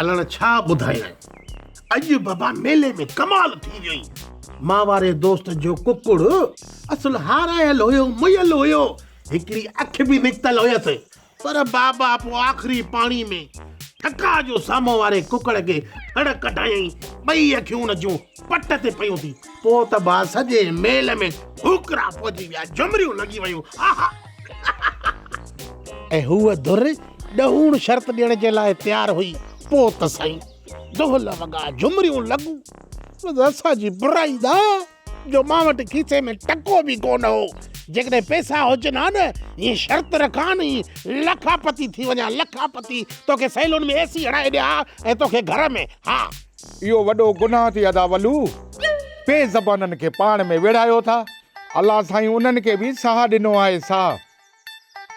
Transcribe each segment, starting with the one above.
الڻ ڇا ٻڌايائين اڄ بابا ميلي ۾ ڪمال ٿي ويو اي مان واري دوست جو ڪڪڙ اصل هارايل هيو مئل هيو هڪڙي اک به نڪتل هيس پر بابا پو آخري پاڻي ۾ ٺڪاء جو سامهون واري ڪڪڙ کي ٿڙ ڪڍايائين ٻئي اکيون ان جون پٽ تي پيون ٿي. پوء ته با سڄي ميل ۾ ڦوڪرا پوجي ويا، جهمريون لڳي ويون. آها! ۽ هوء ڌر ڏهوڻ شرط ڏيڻ جي لاء تيار هئي. پوء ته سائين دهل وڳا، جهمريون لڳون. بس اسان جي برائي دا جو مان وٽ کيسي ۾ ٽڪو به ڪو نه هو. جيڪڏهن پئسا هجن ها نه، هيء شرط رکان هي لکاپتي ٿي وڃان، لکاپتي! توکي سيلون ۾ اي سي هڻائي ڏيان ها ۽ توکي گهر ۾، ها! اهو وڏو گناهه ٿي ادا ولو بي زبانن کي پاڻ ۾ ويڙهايو ٿا الله سائين انهن کي به ساهه ڏنو آهي ساهه.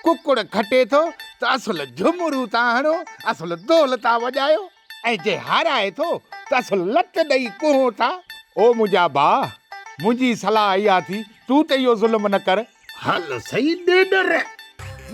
ڪڪڙ کٽي ٿو ته اصل جهمورون ٿا هڻو اصل دول ٿا وڄايو ۽ جي هارائي ٿو ته اصل لت ڏئي ڪهون ٿا. او منهنجا ڀاء منهنجي صلاح اها ٿي تون ته اهو ظلم نه ڪر. هل سهي ڏيڏر،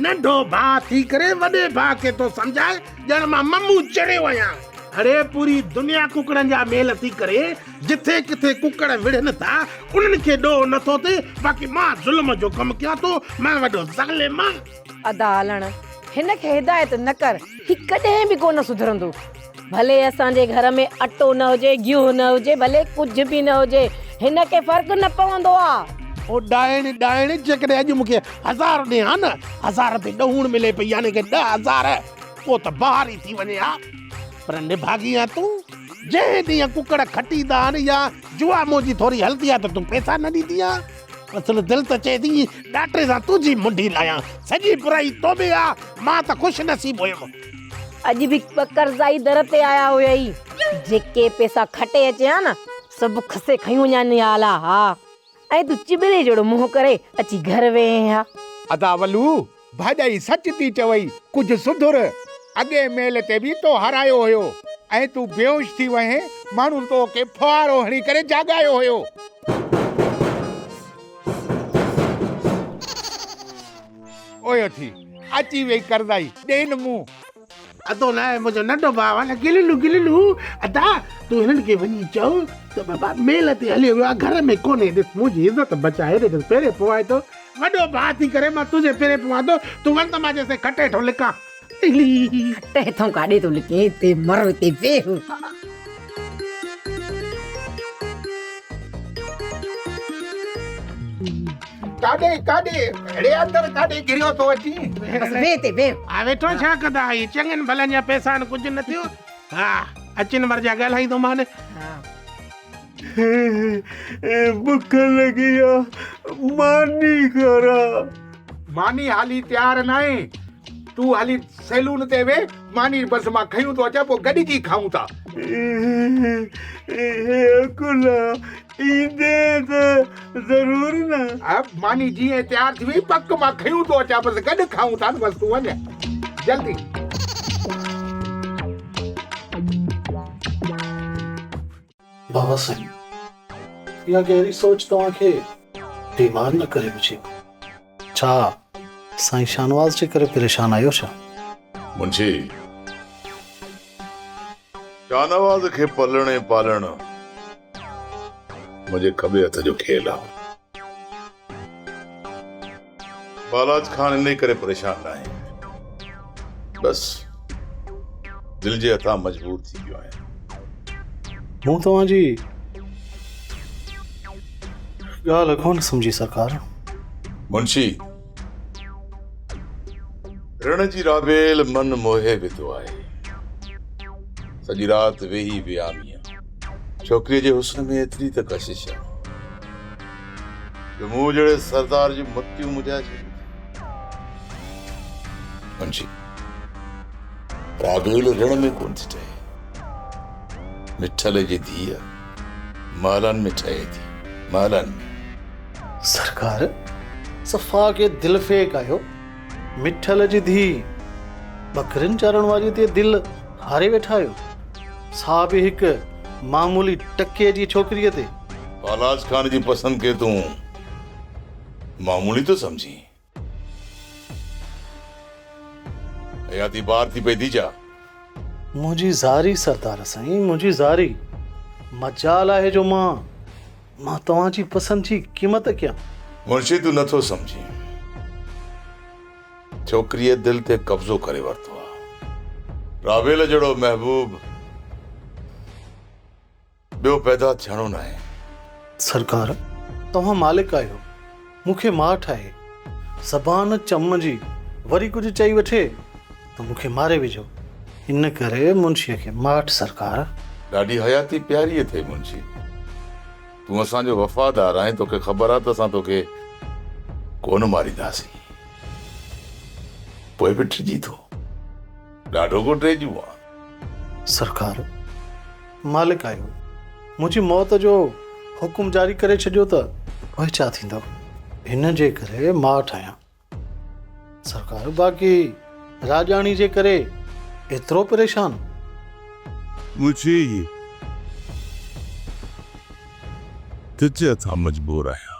ننڍو ڀاء ٿي ڪري وڏي ڀاء کي ٿو سمجهاء ڄڻ مان ممون چڙهيو آهيان. اڙي پوري دنيا ڪڪڙن جا ميل ٿي ڪري، جٿي ڪٿي ڪڪڙ وڙهن ٿا، انهن کي ڏوهه نٿو ٿئي، باقي مان ظلم جو ڪم ڪيان ٿو، مان وڏو ظالم آهيان. ادا علڻ هن کي هدايت نه ڪر هي ڪڏهن به ڪونه سڌرندو ڀلي اسان جي گهر ۾ اٽو نه هجي گيهه نه هجي ڀلي ڪجهه به نه هجي هن کي فرق نه پوندو آ. او ڏائڻ ڏائڻ جيڪڏهن اڄ مون کي هزار ڏئين ها نه هزار به ڏهوڻ ملي پئي يعني ڪي ڏهه هزار پو ته بهار ئي ٿي وڃي ها پر نڀاڳي آ تون جنهن ڏينهن ڪڪڙ کٽيندا آهن يا جوا منهنجي ٿوري هلندي آ ته تون پئسا نه ڏيندي آ. اصل دل ته چئي ٿي ڏاٽي سان تنهنجي منڍي لاهيان. سڄي برائي تو ۾ آ، مان ته خوش نصيب هيم. اڄ به ٻه قرضائي در تي آيا هيائي. جيڪي پئسا کٽي اچين ها نه، سڀ کسي کڻي وڃائين ها الا ها. ۽ تون چٻري جهڙو منهن ڪري اچي گهر ويهين ها. ادا ولو، ڀاڄائي سچ ٿي چوئي، ڪجهه سڌر، اڳئين ميل تي به تو هارايو هيو ۽ تون بيهوش ٿي وئين، ماڻهن تو کي ڦوهارو هڻي ڪري جاڳايو هيو. اوهيو ٿي اچي ويئي قرضائي، ڏين مون. ادو نه منهنجو ننڍو ڀاء آ نه گللو گللو ادا تون هنن کي وڃي چئو ته بابا ميل تي هليو ويو آ گهر ۾ ڪونهي ڏس منهنجي عزت بچائي ڏس پيري پوئان ٿو وڏو ڀاء ٿي ڪري مان تنهنجي پيري پوان ٿو تون وڃ ته مان جيس تائين کٽ هيٺون لڪان کٽ هيٺون ڪاڏي ٿو لڪين هتي مر هتي ويهه ڪاڏي ڪاڏي ڙي اندر ڪاڏي گريو ٿو اچي بس ويھ تي ويھ ها ويٺو ڇا ڪندا هي چڱن ڀلن جا پيسا آهن ڪجهه نه ٿيو ها اچن ور جا ڳالهائيندو مان بک لڳي آ ماني کارا ماني هالي تيار ناهي تون هلي سيلون تي ويھ ماني بس مان کنيون ٿو اچان پوء گڏجي کائون ٿا. اڪولا ايندي ته ضرور نه. ماني جيئن تيار ٿي وئي پڪ مان کنيون ٿو اچان بس گڏ کائون ٿا نه بس تون وڃ جلدي. بابا سائين اها گهري سوچ توهان کي بيمار نه ڪري وجهي. ڇا سائين شاهنواز جي ڪري پريشان آهيو ڇا؟ منشي. شاهنواز کي پلڻ ۽ پالڻ منهنجي کٻي هٿ جو کيل آهي. بالاچ خان انهيء ڪري پريشان ناهي. بس دل جي هٿان مجبور ٿي پيو آهيان. مون توهان جي ڳالهه ڪونه سمجهي سرڪار. منشي! رڻ جي رابيل من موهي وڌو آهي. سڄي رات ويهي وياميان. ڇوڪريء جي حسن ۾ ايتري ته ڪشش آهي جو مون جهڙي سردار جون متيون مجهائي ڇڏيون ٿي. منشي، رابيل رڻ ۾ ڪونه ٿي ٽهي. مٺلي جي ڌيء! محلن ۾ ٺهي ٿي، محلن ۾. سرڪار صفا ڪي دل ڦيڪ آهيو مٺل جي ڌي ٻڪرين چارڻ واري تي دل هاري ويٺا آهيو سا به هڪ معمولي ٽڪي جي ڇوڪري تي. فالاز خان جي پسند کي تون معمولي ٿو سمجهين. حياتي بار ٿي پئي ديجا. منهنجي زاري سردار سائين منهنجي زاري. مجال آهي جو مان مان توهان جي پسند جي قيمت ڪيان. منشي تون نٿو سمجهين. ڇوڪريء دل تي قبضو ڪري ورتو آهي. راويل جهڙو محبوب. ٻيو پيدا ٿيڻو ناهي. سرڪار! توهان مالڪ آهيو، مون کي ماٺ آهي، زبان چم جي وري ڪجهه چئي وٺي ته مون کي ماري وجهو. ان ڪري منشيء کي ماٺ سرڪار! ڏاڍي حياتي پياري اٿئي منشي. تون اسان جو وفادار آهين، توکي خبر آ ته اسان توکي ڪونه مارينداسين. پوء به ٽڙجي ٿو. ڏاڍو ڪو ٽيڄون آ. سرڪار! مالڪ آهيو، منهنجي موت جو حڪم جاري ڪري ڇڏيو ته پوء ڇا ٿيندو؟ هن جي ڪري ماٺ آهيان. سرڪار! باقي راڄاڻي جي ڪري ايترو پريشان؟ منهنجي ئي ڊڄ تان مجبور آهيان.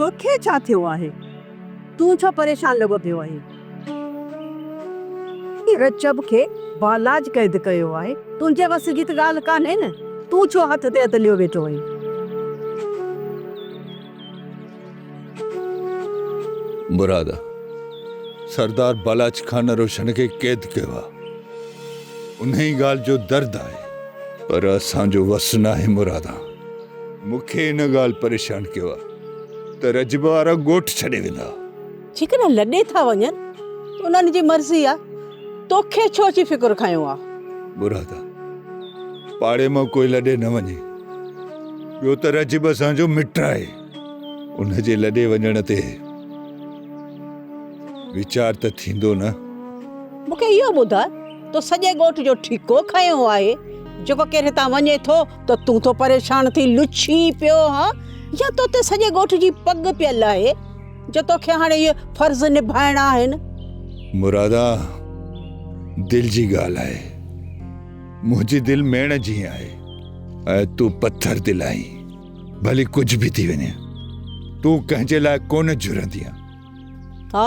توکي ڇا ٿيو آهي؟ تون ڇو پريشان لڳو پيو آهين؟ رچب کي بالاچ قيد ڪيو آهي، تنهنجي وس جي ته ڳالهه ڪانهي نه، تون ڇو هٿ تي هٿ ليو ويٺو آهين؟ مراد سردار بالاچ خان روشن کي قيد ڪيو آ انهي ڳالهه جو درد آهي. پر اسان جو وس ناهي مرادا مون کي ان ڳالهه پريشان ڪيو آ ته رجب وارا ڳوٺ ڇڏي ويندا. جيڪڏهن لڏي ٿا وڃن ته انهن جي مرضي آ توکي ڇو اچي فڪر کنيو آ. مرادا پاڙي مان ڪوئي لڏي نه وڃي ٻيو ته رجب اسان جو مٽ آهي. ان جي لڏي وڃڻ تي ويچار ته ٿيندو نه؟ مون کي اهو ٻڌاء تو سڄي ڳوٺ جو ٺيڪو کنيو آهي، جيڪو ڪير هتان وڃي ٿو ته تون ٿو پريشان ٿي لڇي پيو ها يا تو تي سڄي ڳوٺ جي پڳ پيل آهي جو تو کي هاڻي اهي فرض نڀائڻا آهن؟ مرادا دل جي ڳالهه آهي، منهنجي دل ميڻ جيئن آهي ۽ تون پٿر دل آهين. ڀلي ڪجهه به ٿي وڃي تون ڪنهن جي لاء ڪونه جهرندي آهي ها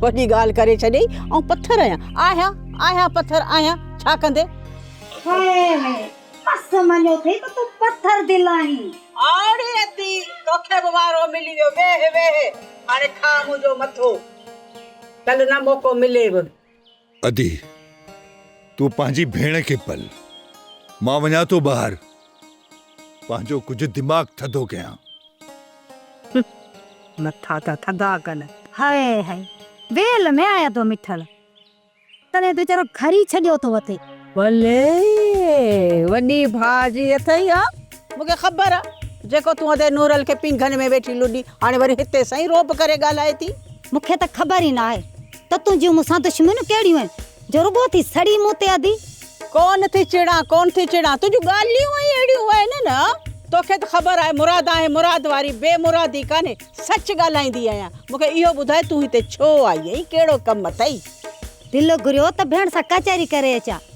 وڏي ڳالهه ڪري ڇڏيئي آئون پٿر آهيان آهيان آهيان پٿر آهيان ڇا ڪندي بس مڃيو ٿي ته تون پٿر دل آهين آڙي ادي توکي به وارو ملي ويو ويهه ويهه هاڻي کاء منهنجو مٿو ڪل نه موقعو ملي به ادي! تون پنهنجي ڀيڻ کي پل، مان وڃان ٿو ٻاهر پنهنجو ڪجهه دماغ ٿڌو ڪيان. مٿا ته ٿڌا ڪن. هائي هائي! ويل ۾ آيا ٿو مٺل، تڏهن ته ويچارو گهر ئي ڇڏيو ٿو اٿئي. ڀلي، وڏي ڀاء جي اٿئي ها. مون کي خبر آ، جيڪو تون ادي نورل کي پينگهن ۾ ويٺي لڏي، هاڻي وري هتي سائين رعب ڪري ڳالهائي ٿي. مون کي ته خبر ئي ناهي. ته تنهنجيون مون سان دشمنيون ڪهڙيون آهن، جو رڳو ٿي سڙي مون تي ادي. ڪونه ٿي چڙان، ڪونه ٿي چڙان، تنهنجون ڳالهيون ئي اهڙيون آهن نه، توکي ته خبر آهي مراد آهي، مراد واري بي مرادي ڪانهي، سچ ڳالهائيندي آهيان، مون کي اهو ٻڌاء تون هتي ڇو آئي آهين، ڪهڙو ڪم اٿئي؟ دل گهريو ته ڀيڻ سان ڪچهري ڪري اچان.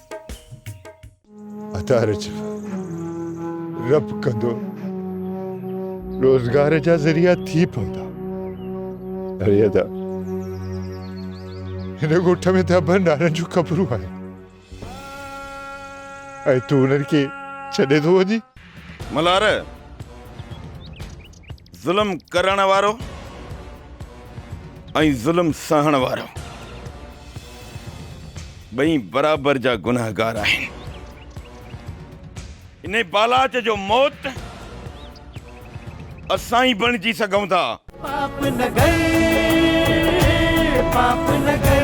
ادار جا رب ڪندو روزگار جا ذريعا ٿي پوندا اري ادا هن ڳوٺ ۾ ته ابن نارن جون قبرون آهن ۽ تون انهن کي ڇڏي ٿو وڃين ملهار ظلم ڪرڻ وارو ۽ ظلم سهڻ وارو ٻئي برابر جا گنهگار آهن ان بالاچ جو موت اسان ئي بڻجي سگهون ٿا. پاپ نگر پاپ نگر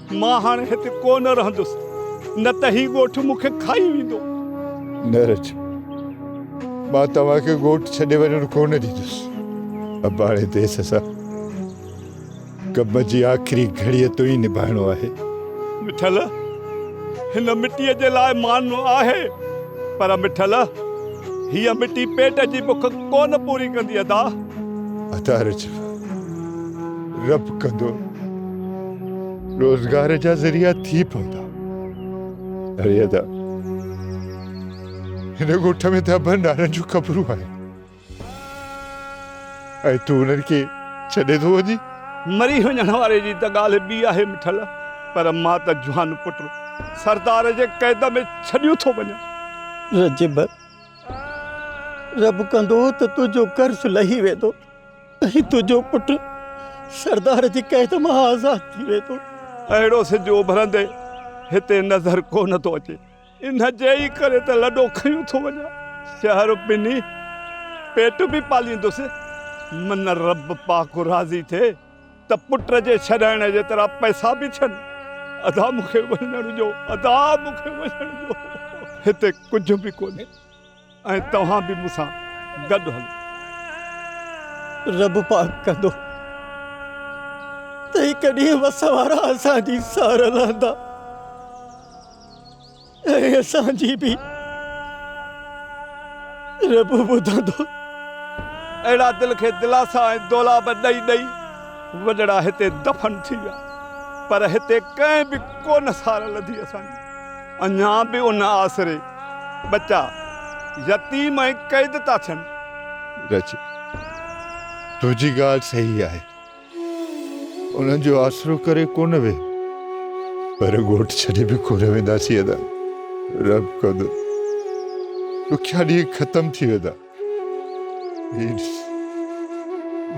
مان هاڻي هتي ڪو نه رهندس، نه ته هي ڳوٺ مون کي کائي ويندو. نرڇ، مان توهان کي ڳوٺ ڇڏي وڃڻ ڪو نه ڏيندس. اباڻي ديس سان ڪم جي آخري گهڙيء تائين نڀائڻو آهي. مٺل، هن مٽيء جي لاء مان آهي، پر مٺل، هيء مٽي پيٽ جي بک ڪو نه پوري ڪندي ادا. ادا رڇ، رپ ڪندو روزگار جا ذريعا ٿي پوندا اري ادا هن ڳوٺ ۾ ته ابن نارن جون قبرون آهن ۽ تون انهن کي ڇڏي ٿو وڃين. مري وڃڻ واري جي ته ڳالهه ٻي آهي مٺل پر مان ته جوان پٽ سردار جي قيد ۾ ڇڏيو ٿو وڃان. رجب رپ ڪندو ته تنهنجو قرض لهي ويندو. ۽ تنهنجو پٽ سردار جي قيد مان آزاد ٿي ويندو. اهڙو سج اڀرندي هتي نظر ڪو نه ٿو اچي. ان جي ئي ڪري ته لڏو کنيون ٿو وڃان. شهر ٻنهي پيٽ به پاليندس. من رب پاڪ راضي ٿئي ته پٽ جي ڇڏائڻ جيترا پئسا به ٿين. ادا مون کي وڃڻ ڏيو. ادا مون کي وڃڻ ڏيو. هتي ڪجهه به ڪونهي. ۽ توهان به مون سان گڏ هلو. رب پاڪ ڪندو ته هڪ ڏينهن وس وارا اسان جي سار لهندا ۽ اسان جي به رب ٻڌندو. اهڙا دل کي دلاسا ۽ دولاب ڏئي ڏئي وڏڙا هتي دفن ٿي ويا، پر هتي ڪنهن به ڪونه سار لڌي اسان جي. اڃا به ان آسري ٻچا يتيم ۽ قيد ٿا ٿين. رچ، تنهنجي ڳالهه صحيح آهي. انهن جو آسرو ڪري ڪو نه ويهه. پر ڳوٺ ڇڏي به ڪو نه وينداسين ادا. رحم ڪندو. ڏکيا ڏينهن ختم ٿي ويندا. هي ڏس،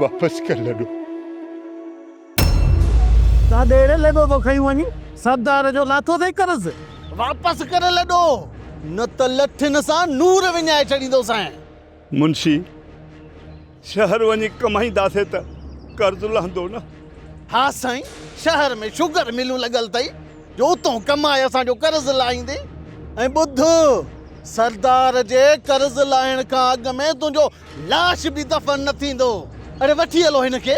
واپس ڪر لڏو. تان ڏيڙهي لڏو ٿو کنئي وڃي، سردار جو لاٿو ٿئي قرض، واپس ڪري لڏو، نه ته لٺين سان نور وڃائي ڇڏيندوسانء. منشي، شهر وڃي ڪمائينداسين ته قرض لهندو نه؟ ها سائين، شهر ۾ شگر ملون لڳل ٿئي، جو اتئون ڪمائي اسان جو قرض لاهيندين. ۽ ٻڌ، سردار جي قرض لاهڻ کان اڳ ۾ تنهنجو لاش به دفن نه ٿيندو. اڙي وٺي هلو هن کي.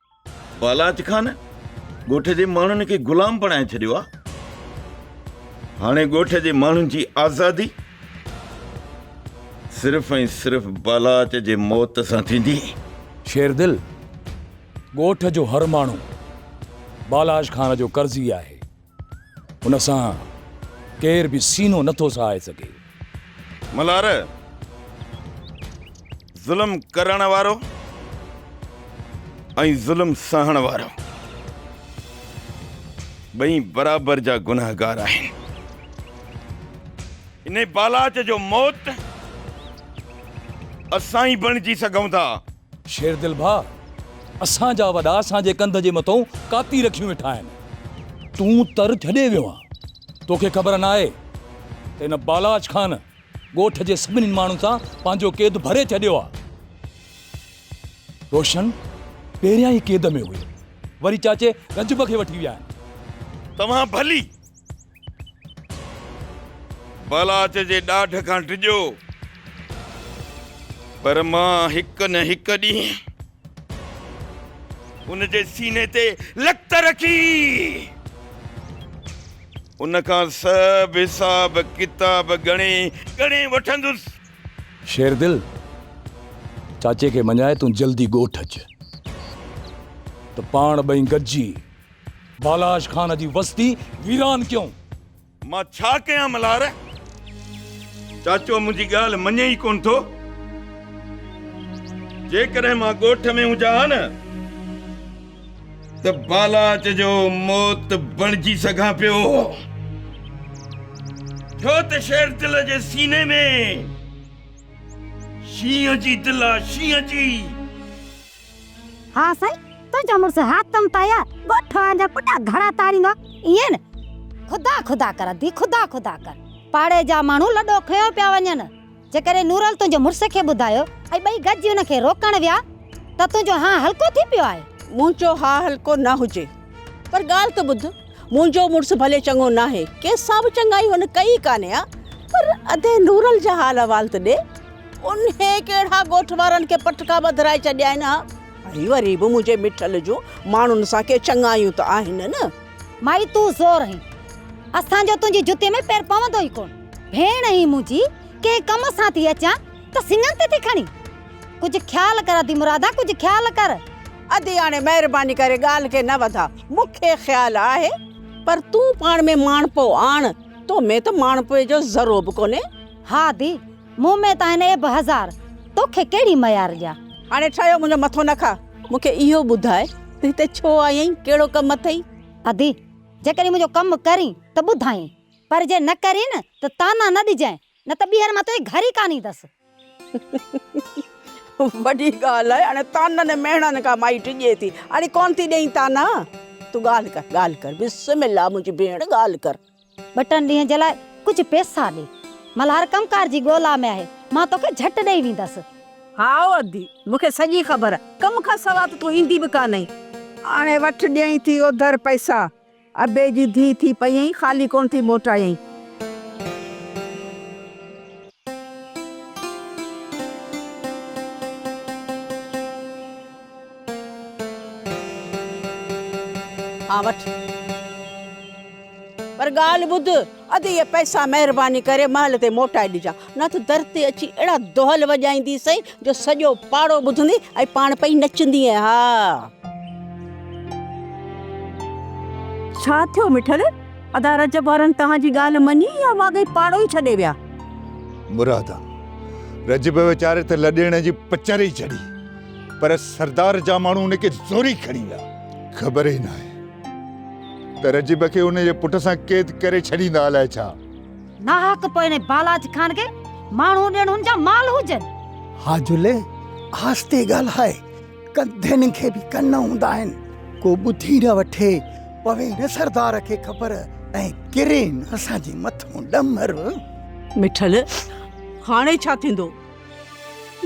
بالاچ خان ڳوٺ جي ماڻهن کي غلام بڻائي ڇڏيو آ هاڻي ڳوٺ جي ماڻهن جي آزادي صرف ۽ صرف بالاچ جي موت سان ٿيندي شير دل ڳوٺ جو هر ماڻهو بالاچ خان جو قرضي آهي ان سان ڪير به سينو نٿو سهائي سگهي. ملهار، ظلم ڪرڻ وارو ۽ ظلم سهڻ وارو ٻئي برابر جا گنهگار آهن. انهي بالاچ جو موت اسان ئي بڻجي سگهون ٿا. شيردل ڀاء، اسان جا وڏا اسان جي ڪنڌ جي مٿئون ڪاتي رکيون ويٺا آهن. تون تر ڇڏي ويو آن. توکي خبر ناهي ته هن بالاچ خان ڳوٺ جي سڀني ماڻهن سان پنهنجو قيد ڀري ڇڏيو آ. روشن پهريان ئي قيد ۾ هيو. وري چاچي رجب کي وٺي ويا آهن. توهان ڀلي بلاچ جي ڏاڍ کان ڊڄو پر مان هڪ نه هڪ ڏينهن ان جي سيني تي لت رکي ان کان سڀ حساب ڪتاب ڳڻي ڳڻي وٺندس شيردل چاچي کي مڃائي تون جلدي ڳوٺ اچ ته پاڻ ٻئي گڏجي بالاحاش خان جي وستي ويران ڪيون. مان ڇا ڪيان ملهار؟ چاچو منهنجي ڳالهه مڃين ئي ڪونه ٿو. جيڪڏهن مان ڳوٺ ۾ هجان ها نه ته بالاحاش جو موت بڻجي سگهان پيو. ٿيو ته شير دل جي سيني ۾. شينهن جي دل آ شينهن جي. ها سائين، تنهنجو مڙس حاتم طاهيا ڳوٺ وارن جا پٽا گهڙا تاريندو آ، ائين نه؟ خدا خدا ڪر ادي، خدا خدا ڪر. پاڙي جا ماڻهو لڏو کنيو پيا وڃن. جيڪڏهن نورل تنهنجي مڙس کي ٻڌايو ۽ ٻئي گڏجي هن کي روڪڻ ويا ته تنهنجو هانء هلڪو ٿي پيو آهي. منهنجو هانء هلڪو نه هجي، پر ڳالهه ته ٻڌ. منهنجو مڙس ڀلي چڱو ناهي، ڪيس سان به چڱائي هن ڪئي ئي ڪانهي ها، پر ادي نورل جا حال احوال ته ڏي. انهي ڪهڙا ڳوٺ وارن کي پٽڪا ٻڌرائي ڇڏيا آهن ها؟ ۽ وري به منهنجي مٺل جون ماڻهن سان ڪي چڱايون ته آهن نه. مائي تون زور هين، اسان جو تنهنجي جتي ۾ پير پوندو ئي ڪونه. ڀيڻ هين منهنجي، ڪنهن ڪم سان ٿي اچان ته سڱن تي ٿي کڻين. ڪجهه خيال ڪر ادي مرادا ڪجهه خيال ڪر. ادياڻي مهرباني ڪري ڳالهه کي نه وڌاء مون کي خيال آهي پر تون پاڻ ۾ ماڻهپو آڻ تو ۾ ته ماڻهپوء جو ذرو به ڪونهي. ها ادي مون ۾ ته آهن عيب هزار توکي ڪهڙي ميار ڏيان. هاڻي ٺهيو منهنجو مٿو نه کا مون کي اهو ٻڌاء ته هتي ڇو آئي آهين ڪهڙو ڪم اٿئي. ادي جيڪڏهن منهنجو ڪم ڪرين ته ٻڌائين پر جي نه ڪرين ته طعنا نه ڏجانء نه ته ٻيهر مان تنهنجي گهر ئي ڪانه ايندس. وڏي ڳالهه آهي هاڻي طعنن مهڻن کان مائي ڊڄي ٿي. اڙي ڪونه ٿي ڏئين طعنا. تون ڳالهه ڪر ڳالهه ڪر بسم الله منهنجي ڀيڻ ڳالهه ڪر. ٻه ٽن ڏينهن جي لاء ڪجهه پيسا ڏي. ملهار ڪم ڪار جي ڳولا ۾ آهي. مان توکي جهٽ ڏئي ويندس. هائو ادي مون کي سڄي خبر آهي. ڪم کان سوا ته تون ايندي به ڪانه آهين. هاڻي وٺ ڏيئين ٿي اوڌر پئسا. ابي جي ڌيء ٿي پيئين، خالي ڪونه ٿي موٽايئين. ها وٺ، پر ڳالهه ٻڌ. اڌ اهي پئسا مهرباني ڪري محل تي موٽائي ڏجا نه ته در تي اچي اهڙا دهل وڄائينديسئي جو سڄو پاڙو ٻڌندي ۽ پاڻ پئي نچندينء ها. ڇا ٿيو مٺل؟ ادا رجب وارن توهان جي ڳالهه مڃي يا واقعي پاڙو ئي ڇڏي ويا؟ مرادا! رجب ويچاري ته لڏيڻ جي پچر ئي چڙهي پر سردار جا ماڻهو ان کي زوري کڻي ويا. خبر ئي ناهي. ته رجب کي ان جي پٽ سان قيد ڪري ڇڏيندا الائي ڇا؟ ناحق پوء انهي بالاچ خان کي ماڻهو ڏيڻ هن جا مال هجن. ها جلي آهستي ڳالهاء ڪنڌين کي به ڪن هوندا آهن ڪو ٻڌي نه وٺي پوي نه سردار کي خبر ۽ ڪري نه اسان جي مٿون ڏمر. مٺل هاڻي ڇا ٿيندو؟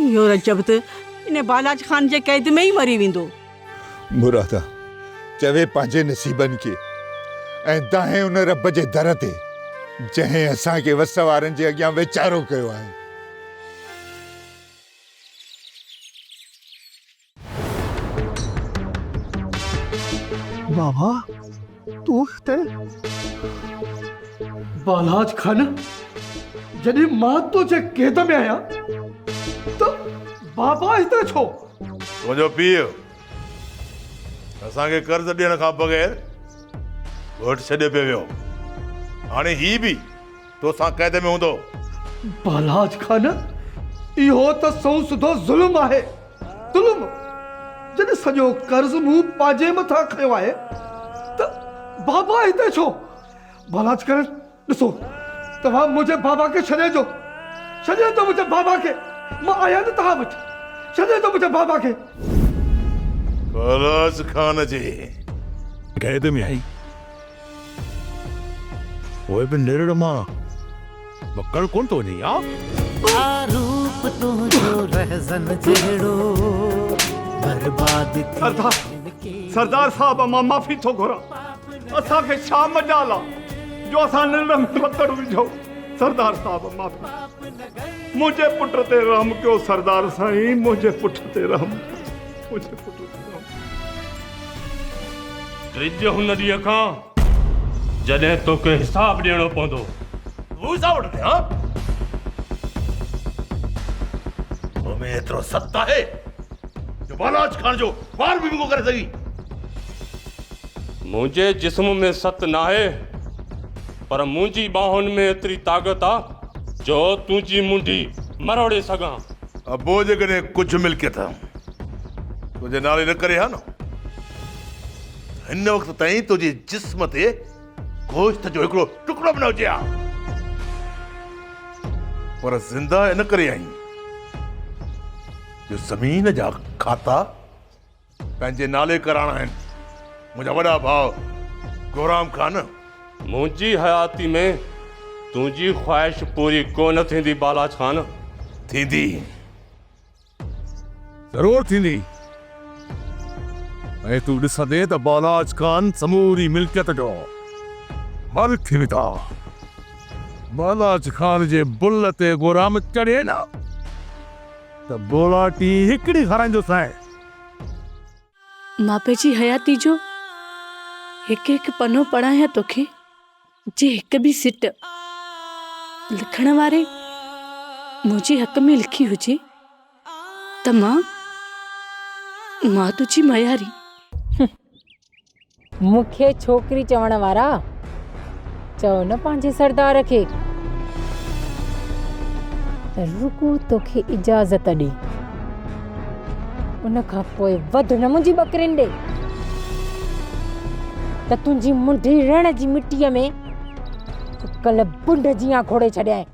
اهو رجب ته انهي بالاچ خان جي قيد ۾ ئي مري ويندو. مرادا چوي پنهنجي نصيبن کي ۽ دانهين ان رب جي در تي جنهن اسان کي وس وارن جي اڳيان ويچارو ڪيو آهي. بابا! تون هتي؟ بالاچ خان، جڏهن مان تنهنجي قيد ۾ آهيان ته بابا هتي ڇو؟ تنهنجو پيء اسان کي قرض ڏيڻ کان بغير ڳوٺ ڇڏي پيو ويو. هاڻي هي به تو سان قيد ۾ هوندو. پهلاج خان، اهو ته سنئون سڌو ظلم آهي. ظلم! جڏهن سڄو قرض مون پنهنجي مٿان کنيو آهي ته بابا هتي ڇو؟ پهلاج خان، ڏسو، توهان منهنجي بابا کي ڇڏي اچو. ڇڏي اچو منهنجي بابا کي. مان آهيان نه توهان وٽ. ڇڏي اچو منهنجي بابا کي. پهلاج خان جي قيد ۾ آهي. پوء به نرڙ مان مڪڙ ڪونه ٿو وڃي ها؟ آ روپ تنهنجو رهزن جهڙو برباد سردار سردار صاحب مان معافي ٿو گهران اسان کي ڇا مجال آ جو اسان نرڙ ۾ مڪڙ وجهو سردار صاحب معافي منهنجي پٽ تي رحم ڪيو سردار سائين منهنجي پٽ تي رحم ڪيو منهنجي پٽ تي رحم ڊڄ هن ڏينهن کان جڏهن توکي حساب ڏيڻو پوندو. هو حساب وٺندي ها؟ تو ۾ ايترو ست آهي جو بالاچ کان جو وار به ڀينگو ڪري سگهين. منهنجي جسم ۾ ست ناهي پر منهنجي ٻانهن ۾ ايتري طاقت آ جو تنهنجي منڍي مروڙي سگهان. ابو جيڪڏهن ڪجهه ملڪيت تنهنجي نالي نه ڪري ها نه ته هن وقت تائين تنهنجي جسم تي گوشت جو هڪڙو ٽڪرو به نه هجي ها پر زنده ان ڪري آهين جو زمين جا کاتا پنهنجي نالي ڪراڻا آهن منهنجا وڏا ڀاء گورام خان. منهنجي حياتي ۾ تنهنجي خواهش پوري ڪونه ٿيندي بالاچ خان. ٿيندي ضرور ٿيندي ۽ تون ڏسندين ته بالاچ خان سموري ملڪيت جو مالڪ ٿي ويندا. بالاچ خان جي بل تي گورام چڙهي نه ته بولاٽي هڪڙي کارائيندوسانء. مان پنهنجي حياتي جو هڪ هڪ پنو پڙهايان توکي جي هڪ به سٽ لکڻ واري منهنجي حق ۾ لکي هجي ته مان مان تنهنجي مياري مون کي ڇوڪري چوڻ وارا، چئو نه پنهنجي سردار کي ته رڳو توکي اجازت ڏي، ان کان پوء وڌ نه منهنجي ٻڪرين ڏي ته تنهنجي منڍي رڻ جي مٽيء ۾ ڪل بنڊ جيان کوڙي ڇڏيان.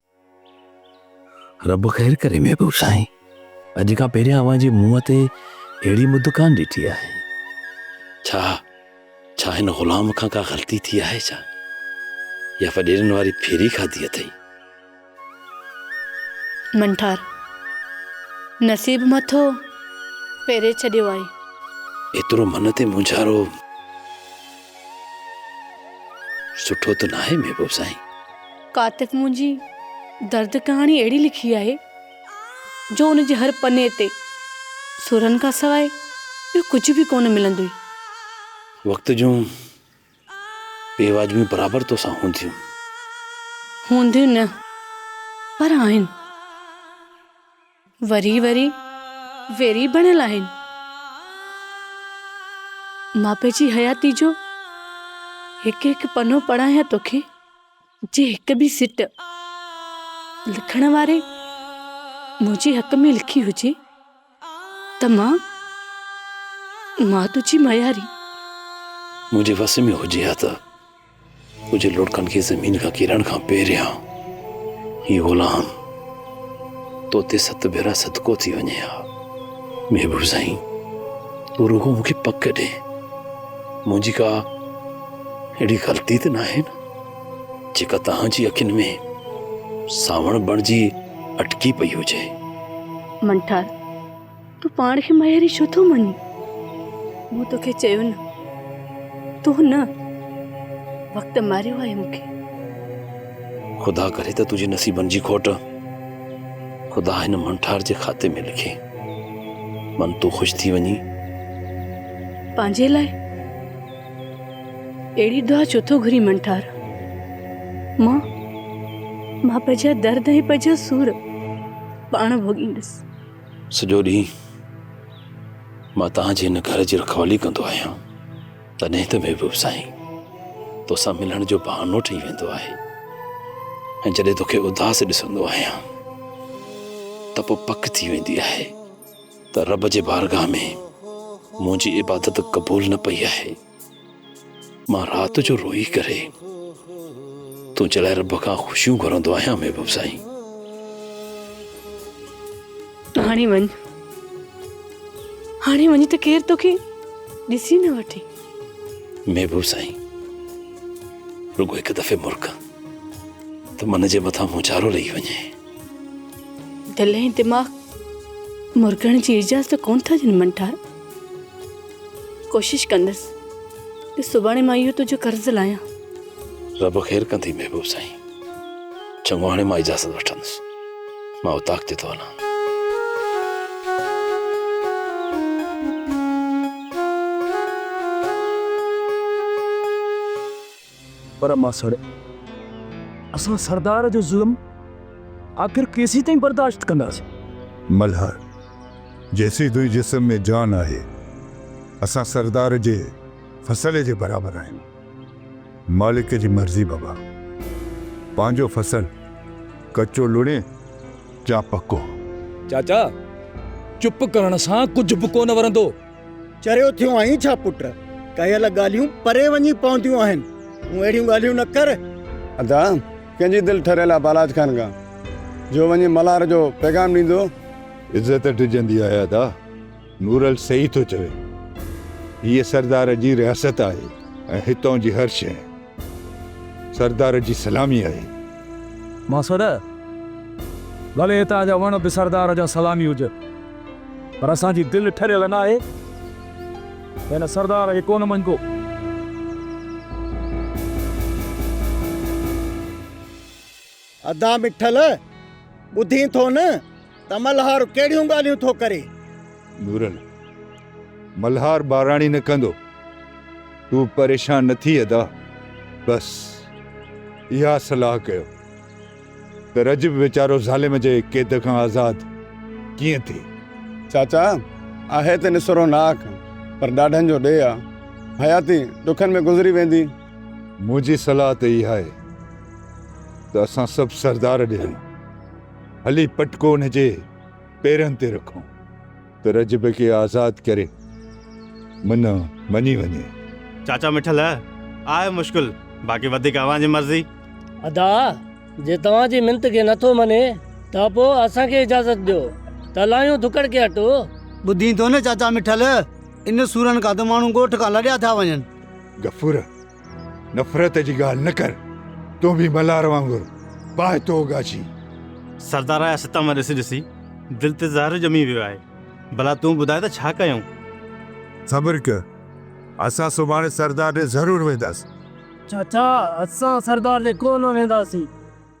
رب خير ڪري محبوب سائين اڄ کان پهريان اوهان جي منهن تي اهڙي مد ڪان ڏٺي آهي ڇا ڇا هن غلام کان ڪا غلطي ٿي آهي ڇا يا وڏيرن واري ڦيري کاڌي اٿئي منٺار نصيب مٿو ڦيري ڇڏيو آهي ايترو من تي مونجهارو سٺو ته ناهي محبوب سائين. ڪاتب منهنجي درد ڪهاڻي اهڙي لکي آهي جو ان جي هر پني تي سرن کان سواء ٻيو ڪجهه به ڪونه ملندوئي. وقت جون بي واجبيون برابر تو سان هونديون. هونديون نه پر آهن. وري وري ويري بڻيل آهن. مان پنهنجي حياتي جو هڪ هڪ پنو پڙهايان توکي جي هڪ به سٽ لکڻ واري منهنجي حق ۾ لکي هجي ته مان مان تنهنجي مياري. منهنجي وس ۾ هجي ها ته. ڪجهه لڙڪن کي زمين کان ڪيرڻ کان پهريان هي غلام تو تي ست ڀيرا صدقو ٿي وڃي ها محبوب سائين تو رڳو مون کي پڪ ڏي منهنجي ڪا اهڙي غلطي ته ناهي نه جيڪا توهان جي اکين ۾ ساوڻ بڻجي اٽڪي پئي هجي منٺار تون پاڻ کي مياري ڇو ٿو مڃين؟ مون توکي چيو نه تون نه وقت ماريو آهي مون کي. خدا ڪري ته تنهنجي نصيبن جي کوٽ خدا هن منٺار جي کاتي ۾ لکي. من تون خوش ٿي وڃين. پنهنجي لاء اهڙي دعا ڇو ٿو گهرين منٺار؟ مان مان پنهنجا درد ۽ پنهنجا سور پاڻ ڀوڳيندس. سڄو ڏينهن مان توهان جي هن گهر جي رکوالي ڪندو آهيان تڏهن ته محبوب سائين توسان ملڻ جو بهانو ٺهي ويندو آهي ۽ جڏهن توکي اداس ڏسندو آهيان ته پوء پڪ ٿي ويندي آهي ته رب جي بارگاهه ۾ منهنجي عبادت قبول نه پئي آهي مان رات جو روئي ڪري تنهنجي لاء رب کان خوشيون گهرندو آهيان محبوب سائين هاڻي وڃ هاڻي وڃ ته ڪير توکي ڏسي نه وٺي محبوب سائين رڳو هڪ دفعي مرڪ ته من جي مٿان موچارو لهي وڃي دل ۽ دماغ مرڪڻ جي اجازت ڪون ٿا ڏين منٽار ڪوشش ڪندس ته سڀاڻي مان اهو تنهنجو قرض لاهيان. رب خير ڪندي محبوب سائين. چڱو هاڻي مان اجازت وٺندس. مان اوطاق تي ٿو هلان. پر ماسڙ اسان سردار جو ظلم آخر ڪيسيتائين برداشت ڪنداسين؟ ملهار جيسين تنهنجي جسم ۾ جان آهي اسان سردار جي فصل جي برابر آهيون. مالڪ جي مرضي بابا. پنهنجو فصل ڪچو لڻي يا پڪو. چاچا چپ ڪرڻ سان ڪجهه به ڪونه ورندو. چريو ٿيو آهين ڇا پٽ؟ ڪيل ڳالهيون پري وڃي پونديون آهن. تون اهڙيون ڳالهيون نه ڪر. ادا ڪنهن جي دل ٺريل آهي بالاچ خان کان جو وڃي ملهار جو پيغام ڏيندو. عزت ڊڄندي آهي ادا. نورل صحيح ٿو چوي. هيء سردار جي رياست آهي ۽ هتان جي هر شيء. سردار جي سلامي آهي. مان سڏ، ڀلي هتان جا وڻ به سردار جا سلامي هجن، پر اسان جي دل ٺريل ناهي ته هن سردار کي ڪونه مڃبو. ادا مٺل! ٻڌين ٿو نه ته ملهار ڪهڙيون ڳالهيون ٿو ڪري. نورل! ملهار ٻاراڻي نه ڪندو. تون پريشان نه ٿي ادا. بس اها صلاح ڪيو ته رجب ويچارو ظالم جي قيد کان آزاد ڪيئن ٿئي. چاچا! آهي ته نسروناڪ پر ڏاڍن جو ڏيهه آ. حياتي ڏکن ۾ گذري ويندي. منهنجي صلاح ته اها آهي ته اسان سڀ سردار ڏي هلون. هلي پٽڪو ان جي پيرن تي رکون ته رجب کي آزاد ڪري من مڃي وڃي. چاچا مٺل، آهي مشڪل، باقي وڌيڪ اوهان جي مرضي. ادا، جي توهان جي منت کي نه ٿو مڃي ته پوء اسان کي اجازت ڏيو ته هلايون ڌڪڙ کي اٽو. ٻڌين ٿو نه چاچا مٺل، ان سورن کان ته ماڻهو ڳوٺ کان لڏيا ٿا وڃن. غفور! نفرت جي ڳالهه نه ڪر، تون به ملهار وانگر پاهه ٿو اوڳاڇين. سردار جا ستم ڏسي ڏسي دل تي زهر ڄمي ويو آهي، ڀلا تون ٻڌاء ته ڇا ڪيون؟ صبر ڪر، اسان سڀاڻي سردار ڏي ضرور وينداسين. چاچا! اسان سردار ڏي ڪو نه وينداسين.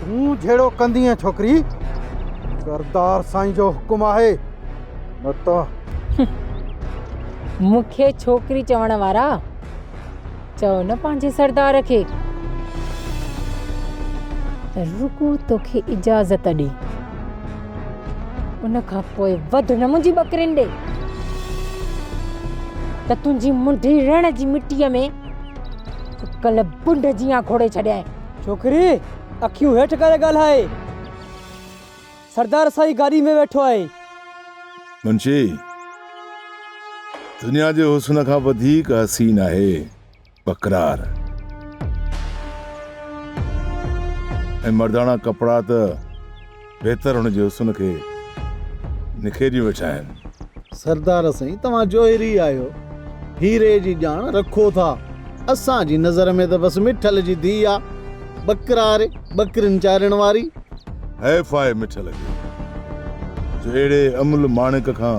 تون جھڙو ڪندينء ڇوڪري، سردار سائين جو حڪم آھي نه ته. مون کي ڇوڪري چوڻ وارا، چئو نه پنھنجي سردار کي ته رڳو توکي اجازت ڏي، ان کان پوء وڌ نه منھنجي ٻڪرين ڏي ته تنھنجي منڍي رڻ جي مٽيء ۾ سڪل بنڊ جيان کوڙي ڇڏينء. ڇوڪري اکيون هيٺ ڪري ڳالهائي. سردار سائين گاڏي ۾ ويٺو آهي. منشي، دنيا جي حسن کان وڌيڪ حسين آهي وقرار ۽ مرداڻا ڪپڙا ته. بهتر هن جي حسن کي نکيريون ويٺا آهن. سردار سائين توهان جوهري آهيو هيري جي ڄاڻ رکو ٿا اسان جي نظر ۾ ته بس مٺل جي ڌي آ ٻڪرار ٻڪرين چارڻ واري. حيف آهي مٺل کي جو اهڙي املهه ماڻڪ کان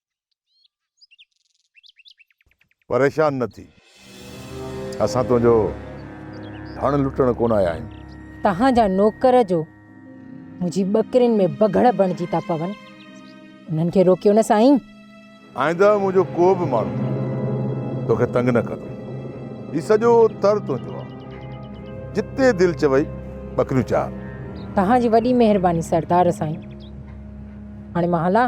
پريشان نه ٿي. اسان تنهنجو ڌڻ لٽڻ ڪونه آيا آهيون. توهان جا نوڪر جو منهنجي ٻڪرين ۾ بگهڙ بڻجي ٿا پون. انهن کي روڪيو نه سائين. آئنده منهنجو ڪو به ماڻهو توکي تنگ نه ڪندو. هي سڄو تر تنهنجو آ. جتي دل چوئي ٻڪريون چار. توهان جي وڏي مهرباني سردار سائين. هاڻي مان هلان؟